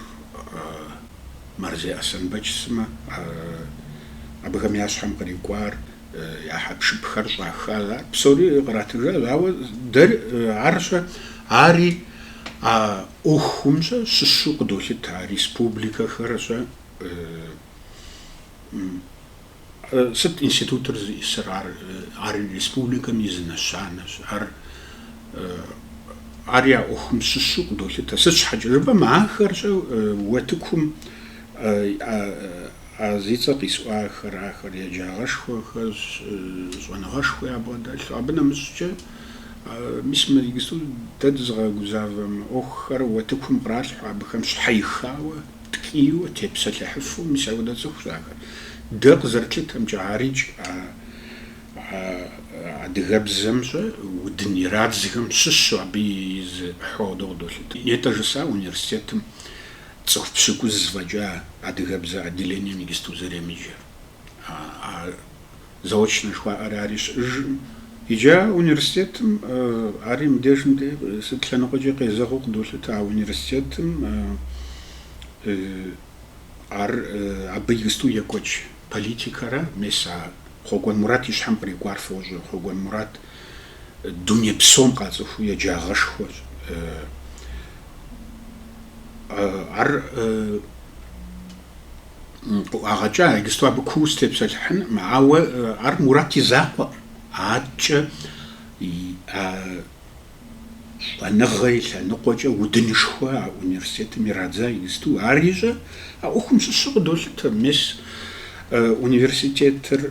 Марзей Аслъэнбэч сымэ абыхэм я щхьэм кърикӏуар. я хьэпшыпхэр щӏаха, ар псори къратыжа, ауэ дэр арщэ, ари а ӏуэхумщэ щыщу къыдолъытэ республикэхэрщэ сыт институтыр зищӏысыр, ар ари республикэм и зы нэщанэщ, ар ари а ӏуэхум щыщу къыдолъытэ, сыт щхьэкӏэ жыпӏэм ахэрщэ уэтыкум А зи цӏэ къисӏуахэр ахэр еджагъэшхуэхэщ, щӏэныгъэшхуэ ябгъэдэлъу. Абы нэмыщӏкӏэ, мис мы иджысту дэ дызыгъэгузавэ мы ӏуэхухэр уэтыкум къралъхьэ, абыхэм щхьэихауэ, ткӏийуэ, тепсэлъыхьыфу, мис апхуэдэ цӏыхущ ахэр. Дэ къызэрытлъытэмкӏэ, арикӏ а адыгэбзэмщэ удын ирадзхэм щыщу абы и зы ӏыхьэ хуэдэу къыдолъытэ. Нетӏэ жысӏа университетым Цӏыху пщыкӏуз фӏэкӏа адыгэбзэ отделением иджысту зэремыджэр. А заочнэ жыхуаӏэр ари щыӏыжым. Иджы а университетым ари мыбдежым дэ сыт лъэныкъуэкӏи къезэгъыу къыдолъытэ. А университетым ар абы иджысту екӏуэкӏ политикэрэ мес а Хъуэкӏуэн Мурат и щхьэм кърикӏуар фощӏэ. Хъуэкӏуэн Мурат Дуней псом къацӏыхуу еджагъэшхуэщ. Ар къыӏуагъэкӏа иджысту абы куу сытепсэлъыхьыным, ауэ ар Мурат и закъуэкъым. Аткӏэ а щӏэныгъэ и лъэныкъуэкӏэ удынышхуэ а университетым ирадза иджысту. Арищэ а ӏуэхум щыщу къыдолъытэ, мис университетыр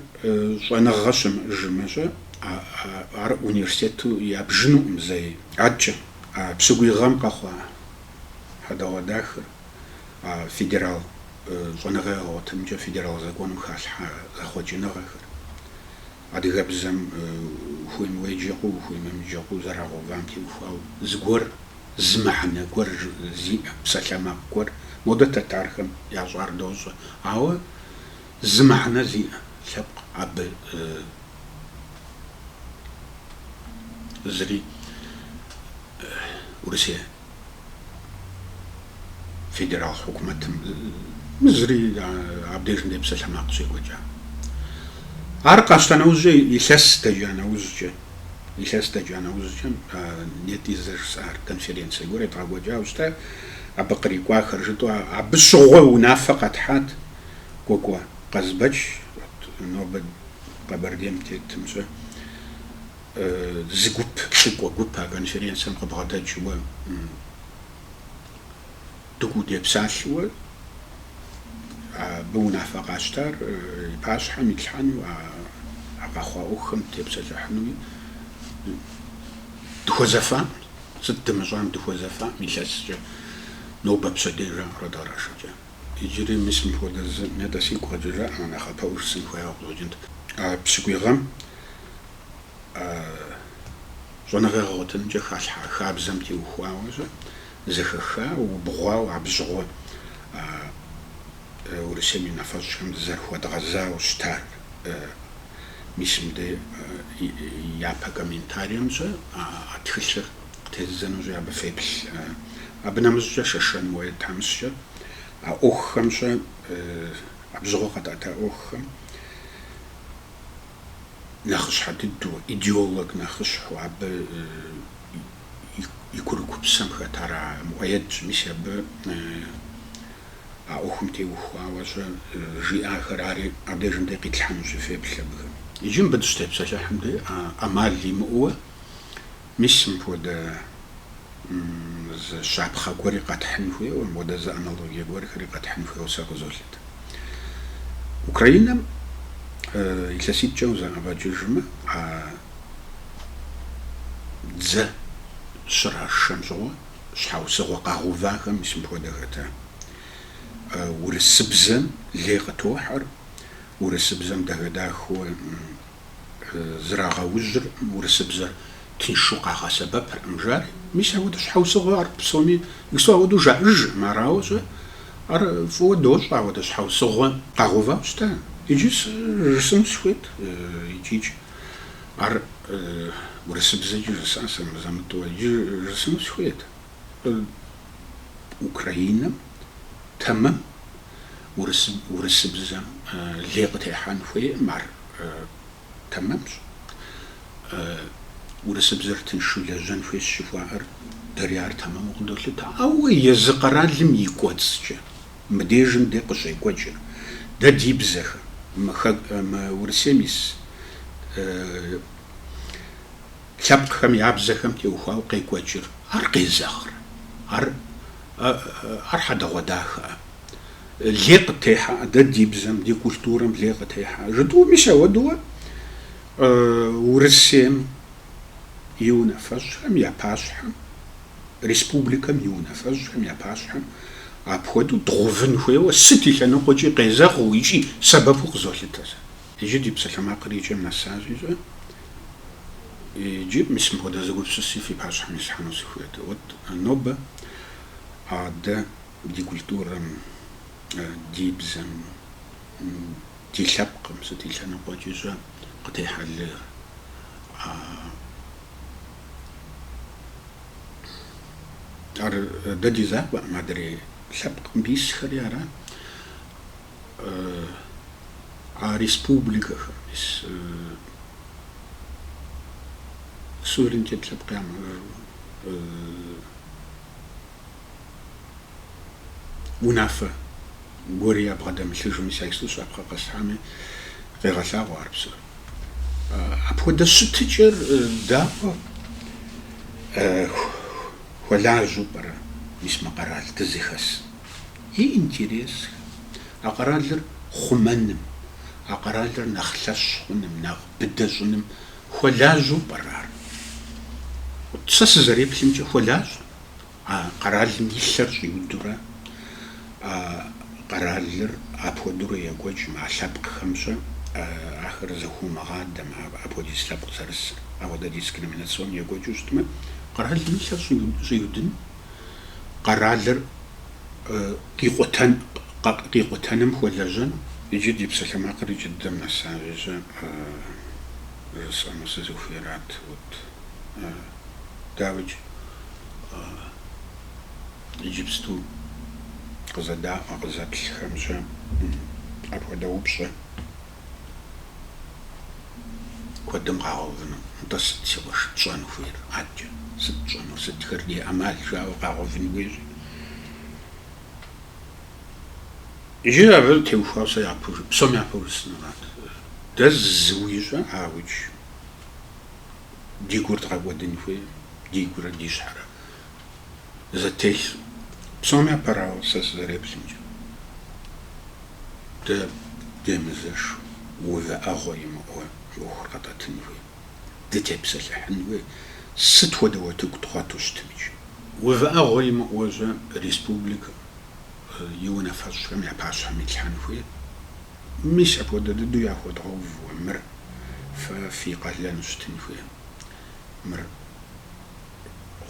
щӏэныгъэ щымыӏыжмэ-щэ. Ар университету ябжынукъым зэи. Аткӏэ, а пщыкӏуий гъэм къэхъуа хьэдэгъуэдахэр, а федерал щӏэныгъэ ягъуэтынымкӏэ федерал законым халъхьа зэхъуэкӏыныгъэхэр, адыгэбзэм ухуейм уеджэ хъуу, ухуейм уемыджэ хъуу зэрагъэувам теухуауэ, зыгуэр зы мыхьэнэ гуэр зиӏэ, псалъэмакъ гуэр, модэ тэтархэм ящӏар дощӏэ, ауэ зы мыхьэнэ зиӏэ лъэпкъ абы Зыри Урысей федерал хьукумэтым зыри абдежым дей псалъэмакъ щекӏуэкӏа. Ар къащта нэужькӏэ, илъэс дэкӏа нэужькӏэ, илъэс дэкӏа нэужькӏэ нетӏэ зэрыжысӏар конференцие гуэр едгъэкӏуэкӏауэ щыта, абы кърикӏуахэр жытӏэу, абы щыгъуэ унафэ къэтхьат Кӏуэкӏуэ Къазбэч, нобэ Къэбэрдейм тетым щэ, зы гуп, лӏыкӏуэ гуп а конференцэм къыбгъэдэкӏыуэ дыкӏуэу депсалъэуэ, абы унафэ къащтар и пащхьэм итлъхьэну, а къэхъуа ӏуэхухэм тепсэлъыхьынуи дыхуэзэфам, сыт дымыщӏам дыхуэзэфам илъэскӏэ нобэ пщэдей жаӏэурэ дыкърашэкӏа. Иджыри мис мыпхуэдэ зы нетӏэ сигу къэкӏыжамэ нэхъапэӏуу жысӏэн хуеяуэ къыщӏэкӏынт. А пщыкӏуий гъэм щӏэныгъэ гъэгъуэтынымкӏэ халъхьа хабзэм теухуауэ-щэ, зэхэхауэ, убгъуауэ абжьыгъуэ Урысейм и унафэщӏхэм зэрыхуэдгъэзауэ щытар мис мыдэ япэ комментарием щэ а тхылъыр Тездзэнущи абы феплъ. Абы нэмыщӏкӏэ Шэшэн Муӏэед тхьэмыщкӏэ а ӏуэхухэм щэ, абжьыгъуэ къэтӏэта ӏуэхухэм нэхъыщхьэ дыдэу, идеолог нэхъыщхьэу, абы и курыкупсэм хэтар Муӏэедщ. Мис абы а ӏуэхум теухуауэ щэ жиӏахэр ари, абдежым дей къитлъхьэнущи феплъ абыхэм. Иджы мыбы дыщытепсэлъыхьым дей ӏэмал имыӏууэ. Мис мыпхуэдэ зы щапхъэ гуэри къэтхьын хуейуэ, мыпхуэдэ зы аналогие гуэрхэри къэтхьын хуейуэ сэ къызолъытэ. Украинэм илъэситӏкӏэ узэӏэбэкӏыжмэ, а дзэ щрашэм щыгъуэ щхьэусыгъуэ къагъэувахэм мис мыпхуэдэ хэта: Урысыбзэм лей къытохьэр, урысыбзэм дахэ-дахэуэ зрагъэужьыркъым урысыбзэр тыншу къагъэсэбэпыркъым жари, мис апхуэдэ щхьэусыгъуэ ар псоми иджыпсту апхуэдэу жаӏэжыркъым, арауэ щэ, ар фӏыуэ дощӏэ апхуэдэ щхьэусыгъуэ къагъэувауэ щыта. Иджы сыжысӏэну сыхуейт икӏикӏ, ар урысыбзэкӏи жысӏащ, сэ мызэ-мытӏэу, иджы жысӏэну сыхуейт. Абы Украинэм тэмэм урысыбзэм лей къытехьэн хуейкъым, ар тэмэмщ. Урысыбзэр тыншу лэжьэн хуейщ жыхуаӏэр, дэри ар тэмэму къыдолъытэ. Ауэ езы къэралым и кӏуэцӏкӏэ мыдежым дэ къыщекӏуэкӏыр, дэ ди бзэхэм, мы Урысейм ис Лъэпкъхэм я бзэхэм теухуауэ къекӏуэкӏыр. Ар къезэгърэ? Ар, ар хьэдэгъуэдахэ. Лей къыттехьэ, дэ ди бзэм, ди культурэм лей къытехьэ жытӏэу мис ауэдууэ Урысейм и унафэщӏхэм я пащхьэм, республикэм и унафэщӏхэм я пащхьэм апхуэдэу дгъувын хуейуэ сыт и лъэныкъуэкӏи къезэгъыу икӏи сэбэпу къызолъытэ сэ. Иджы ди псалъэмакъыр икӏэм нэсащикӏэ. Иджы мис мыпхуэдэ зы гупсыси фи пащхьэм ислъхьэну сыхуейт. Вот нобэ а дэ ди культурэм, ди бзэм, ди лъэпкъым сыт и лъэныкъуэкӏикӏэ къытехьэ лей, ар дэ ди закъуэӏым, адрей лъэпкъыу исхэри арат. а республикэхэм мис суверенитет лъэпкъ ямыӏэжу унафэ гуэри ябгъэдэмылъыжу, мис сэ иджыпсту щапхъэ къэсхьами, къегъэлъагъуэ ар псор. Апхуэдэ щытыкӏэр дауэ хуэлажьэу пӏэрэ мис мы къэрал дызыхэс? и интересхэм, а къэралыр хъумэным, а къэралыр нэхъ лъэщ хъуным, нэхъ быдэ щӏыным хуэлажьэу пӏэрэ ар? Сэ сызэреплъымкӏэ, хуэлажьэ. А къэралым и лъэр щӏиудурэ, а къэралыр апхуэдэурэ екӏуэкӏмэ, а лъэпкъхэмкӏэ ахэр зэхуумыгъадэмэ, апхуэдиз лъэпкъ зэрысыр, апхуэдэ дискриминацион екӏуэкӏыу щытмэ, къэралым и лъэр щӏиудын, къэралыр, къикъутэным хуэлэжьэн. Иджы ди псалъэмакъыр икӏэ дыдэм нэсащикӏэ жысӏэну сызыхуейрат, вот дауикӏ иджыпсту къызэдаӏуэ къызэплъхэмкӏэ апхуэдэ упщӏэ. Куэдым къагъэувыну. Нтӏэ, сыт си къуэш тщӏэн хуейр? Адэкӏэ сыт тщӏэнур? Сытхэр ди ӏэмал жауэ къагъэувын хуейщ? Иджы абы теухуауэ сэ япэу жы, псом япэу жысӏэнурат. Дэ зыуикӏэ, ауедж, ди гур дгъэкӏуэдын хуейр, ди гурэ ди щхьэрэ. зэтелъу. Псоми япэрауэ, сэ сызэреплъымкӏэ, дэ демызэшу увыӏэгъуэ имыӏэу мы ӏуэхур къэтӏэтын хуей, дытепсэлъыхьын хуей, сыт хуэдэ утыку дгъуэту щытмикӏ, увыӏэгъуэ имыӏэущэ республикэм и унафэщӏхэм я пащхьэм итлъхьэн хуей? Мис апхуэдэ дыдэу яхуэдгъэувуэ мыр фэ фи къалэну щытын хуей? Мыр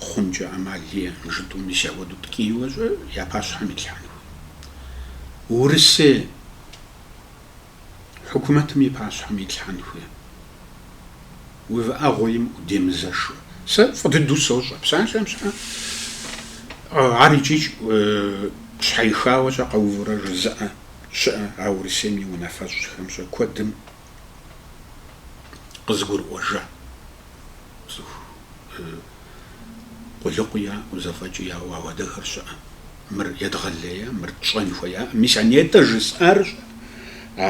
хъункӏэ ӏэмал иӏэ жытӏэу мис апхуэдэу ткӏийуэщэ я пащхьэм итлъхьэн хуей. Урысей хьукумэтым и пащхьэм итлъхьэн хуей. Увыӏэгъуэ имыӏэу демызэшу. Сэ фӏы дыдэу сощӏэ псалъэм щхьэ ар икӏи щхьэихауэщэ къэувурэ жызыӏэ щыӏэ а Урысейм и унафэщӏхэм щэ куэдым къызыгурыӏуэжа? Цӏыху къулыкъу яӏэу, зэфӏэкӏ яӏэу ауэдэхэр щыӏэ. Мыр едгъэлея, мыр тщӏэн хуеяӏым. Мис а нетӏэ жысӏар щӏэ? А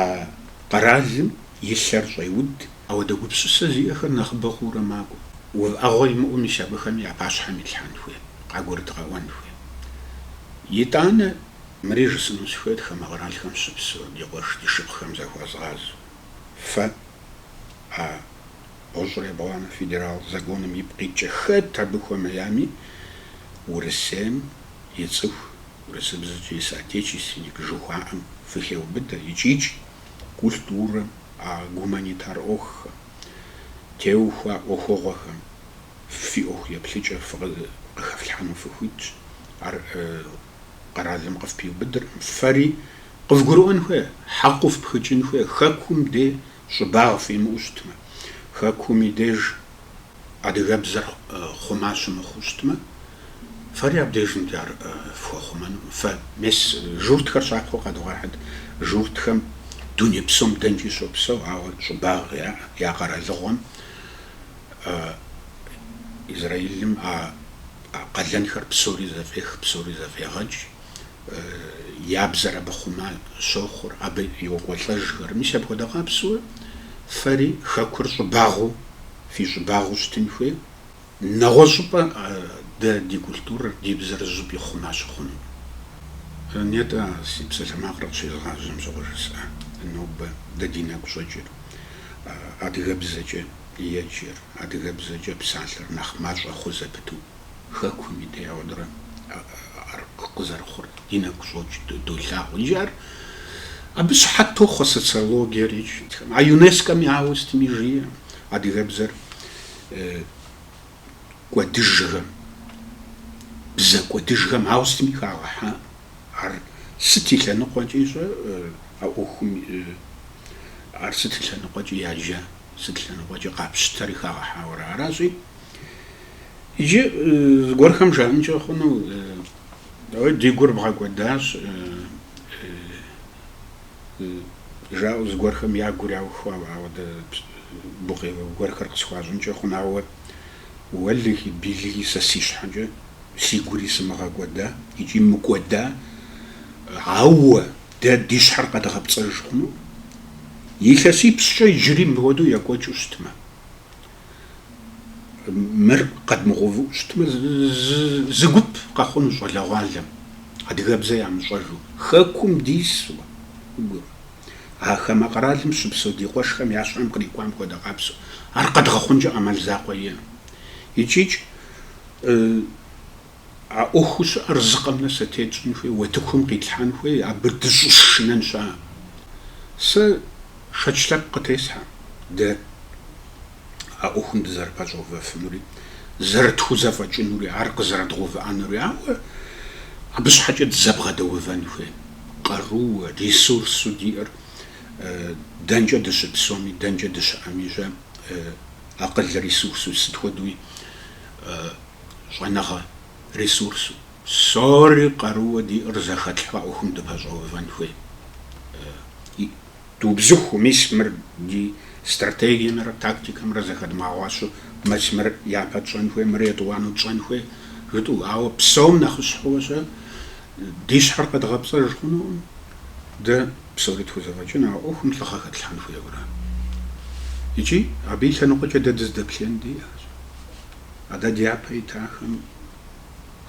къэралым и лъэр щӏеуд, ауэдэ гупсысэ зиӏэхэр нэхъыбэ хъуурэ макӏуэ. Увыӏэгъуэ имыӏэу мис абыхэми я пащхьэм илъхьэн хуей, къагурыдгъэӏуэн хуей. Итӏанэ Мыри жысӏэну сыхуейт хамэ къэралхэм щыпсэу, ди къуэш, ди шыпхъухэм захуэзгъазэу. Фэ, а бгъущӏрэ ебгъуанэ федерал законым ипкъ иткӏэ хэт абы хуэмеями, Урысейм и цӏыху, урысыбзэкӏэ соотечественник жыхуаӏэм фыхеубыдэ икӏикӏ культурэм, а гуманитар ӏуэхухэм, теухуа ӏуэхугъуэхэм фи ӏуэху еплъыкӏэр къыхэфлъхьэну фыхуитщ. Ар Къэралым къыфпиубыдырӏым, фэри къывгурыӏуэн хуей, хьэкъыу фпхыкӏын хуей, хэкум дей щӏыбагъ фимыӏэу щытмэ, хэкум и деж адыгэбзэр хъума щымыхъуу щытмэ, фэри абдежым дей ар фхуэхъумэнукъым. Фэ мес журтхэр щапхъэу къэдывгъэхьыт, журтхэм дуней псом дэнкӏи щопсэу, ауэ щӏыбагъ яӏэ, я къэралыгъуэм, Израилым а. А къалэнхэр псори зэфӏех, псори зэфӏегъэкӏ. Я бзэр абы хъума щохъур, абы йокӏуэлӏэжхэр. Мис апхуэдэ къабзэу фэри Хэкур щӏыбагъыу, фи щӏыбагъыу щытын хуей. Нэгъуэщӏыпӏэ дэ ди культурэр, ди бзэр зыщӏыпӏи хъума щыхъуну. Нетӏэ си псалъэмакъыр къыщезгъажьэм щыгъуэ жысӏа. Нобэ дэ ди нэгу щӏэкӏыр адыгэбзэкӏэ. Еджэр, адыгэбзэкӏэ псалъэр нэхъ мащӏэ хъу зэпыту, хэкум и периодрэ ар къызэрыхъур ди нэгу щӏокӏ, долъагъу. Иджы ар абы щыхьэт тохъуэ социологиер икӏи. А ЮНЕСКО-ми ауэ сытми жиӏэ адыгэбзэр кӏуэдыжхэм, бзэ кӏуэдыжхэм ауэ сытми хагъэхьа. Ар сыт и лъэныкъуэкӏи щӏэ, а ӏуэхум ар сыт и лъэныкъуэкӏи яджа. Сыт лъэныкъуэкӏэ къапщытэри хагъэхьауэ аращи. Иджы зыгуэрхэм жаӏэнкӏэ хъуну, ауэ ди гур бгъэкӏуэдащ жаӏэу зыгуэрхэм я гур яухуауэ, ауэ дэ гукъеуэ гуэрхэр къысхуащӏынкӏэ хъун, ауэ уэлэхьи, билэхьи сэ си щхьэкӏэ си гури сымыгъэкӏуэда икӏи мыкӏуэда, ауэ Дэ ди щхьэр къэдгъэпцӏэж хъуну? Илъэсипщӏкӏэ иджыри мыпхуэдэу екӏуэкӏыу щытмэ, мыр къэдмыгъэувыӏу щытмэ, зы гуп къэхъуну щӏалэгъуалэм, адыгэбзэ ямыщӏэжу, Хэкум дису, а хамэ къэралым щыпсэу ди къуэшхэм я щхьэм кърикӏуам хуэдэ къапсэу, ар къэдгъэхъункӏэ ӏэмал закъуэ иӏэну. Икӏикӏ. А ӏуэхуу щыӏэр зы къэмынэу сэтей тщӏын хуей, уэтыхум къитлъхьэн хуей, абы дыщӏэшынэн щыӏэ. Сэ шэч лъэпкъ къытесхьэ дэ а ӏуэхум дызэрыпэщӏэувэфынури, зэрытхузэфӏэкӏынури, ар къызэрыдгъэувыӏэнури, ауэ абы щхьэкӏэ дызэбгъэдэувэн хуей къарууэ, ресурсу диӏэр дэнкӏэ дыщыпсэуми, дэнкӏэ дыщыӏэми щӏэ, акъыл ресурсу сыт хуэдэуи щӏэныгъэ, ресурсу. Псори къарууэ диӏэр зэхэтлъхьэу ӏуэхум дыпэщӏэувэн хуей. И. Дубзыхуу, мис мыр ди стратегиемрэ тактикэмрэ зэхэдмыгъэгъуащу, мис мыр япэ тщӏэн хуей, мыр етӏуанэу тщӏэн хуей, жытӏэу. Ауэ псом нэхъыщхьэу щэ, ди щхьэр къэдгъэпцӏэж хъунукъым, дэ псори тхузэфӏэкӏын, а ӏуэхум лӏыгъэ хэтлъхьэн хуейуэ ара. Икӏи абы и лъэныкъуэкӏэ дэ дыздэплъеин диӏэщ. А дэ дяпэ итахэм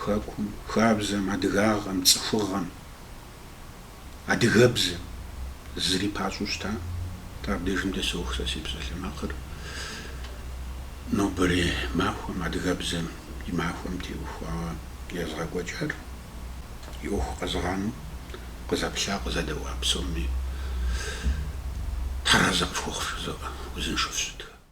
хэкум, хабзэм, адыгагъэм, цӏыхугъэм, адыгэбзэм зыри пащӏэу щыта, атӏэ абдежым дэ соух сэ си псалъэмакъыр нобэрей махуэм, адыгэбзэм и махуэм теухуауэ езгъэкӏуэкӏар, и ӏуэху къэзыгъанэу къызэплъа, къызэдэӏуа псоми Тхьэр арэзы къыфхухъу жызоӏэ, узыншэу фыщытхэ.